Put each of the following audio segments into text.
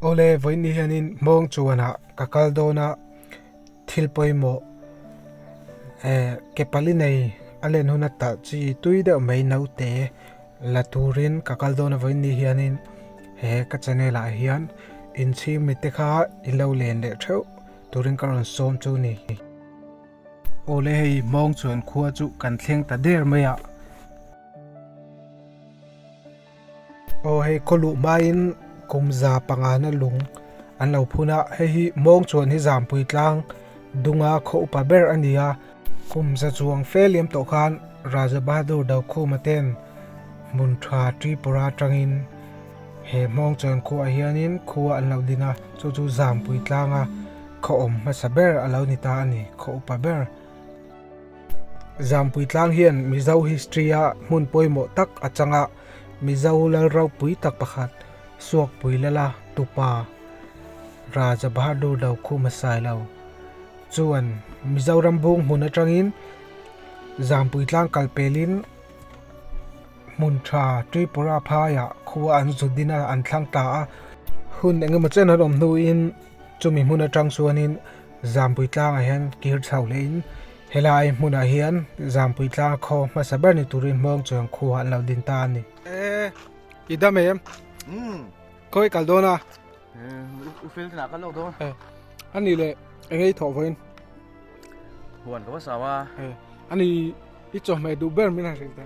Awle, vawiinni hianin hmawng chuanah ka kal dawn a, thil pawimawh ke pali nei a len hun a talh chi tui deuh mai naute la turin ka kal dawn a, vawiinni hianin he ka channel ah hian inchhing mite kha i lo len leh theuh turin ka rawn sawm chu ni. Awle hei hmawng chuan khua chu kan thleng ta der mai a. Aw hei khaw luh hmain kum za pangana lung an lo phun a, hei hi mawng chuan hi zanpui tlang dunga khaw upa ber a nia. Kum za chuang fel liam tawh khan Raja Bahadur Dokhuma ten hmun tha Tripura atangin he mawng chuan khuaah hianin khua an lo ding a, chu chu zanpui tlanga khawawm hmasa ber a lo ni ta a ni, khaw upa ber. Zampuii tlang hian Mizo history a hmun pawimawh tak a chang a, Mizo Lalro pui tak pakhat Suakpui Lala tupa Raja Bahadur lo khu hma sai lo chuan Mizoram bung hmun atangin Zampuii tlang kal pelin hmun tha Tripura phaiah khua an zut dina an thlang ta a, hun engemaw chen an awm hnuin Chumi hmun atang chuanin Zampui tlangah hian kir chho lehin helai hmunah hian Zampui tlanga khaw hmasa ber ni turin Hmawngchuan khuaah an lo din ta a ni. E, i dam em? Umm. Khaw i kal dawn a. E, u fel tinah a kal lo dawn. E, a ni le, eng i thawh vawiin? Huan ka va sau a. E, a ni, i chawhmeh duh ber min han hrilh ta.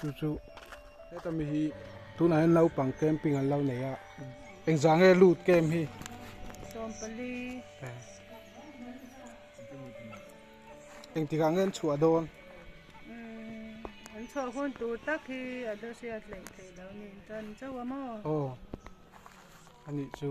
chu chu heta mi hi tunah hian naupang camping an lo nei a engzah nge lut kem hi sawmpali engtikah nge an chhuah dawn an chhuah hun tur tak hi a dosia hleih theih lo nen tan chauh a maw aw anih chu.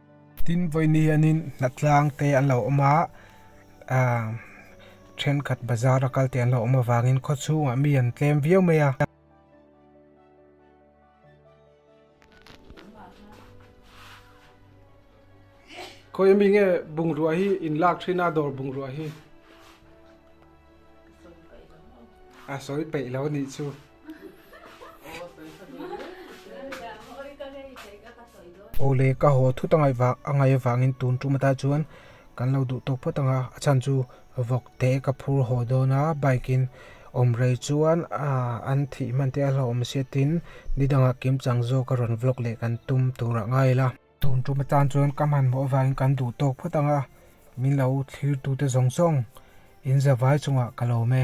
Tin, vawiin hianin hnahtlang te an lo awm a, thenkhat bazar a kal te an lo awm avangin khaw chhungah mi an tlem viau mai a. Khawi a mi nge bungrua hi in lak thin a, dawr bungrua hi? A sawi peih lo nih chu. Aw le ka haw thut a ngaih vak a ngaih avangin tun tum ata chuan kan lo duh tawh phawt ang a, a chhan chu vawk te ka phur haw dawn a bike in awm rei chuan ah an thih hman te a hlauhawm sia tin ni dangah kimchang zawk a rawn vlog leh kan tum tur ah ngai la. Tun tum atan chuan ka hman mawh avangin kan duh tawk phawt ang a, min lo thlir tute zawng zawng in zavai chungah ka lawm e.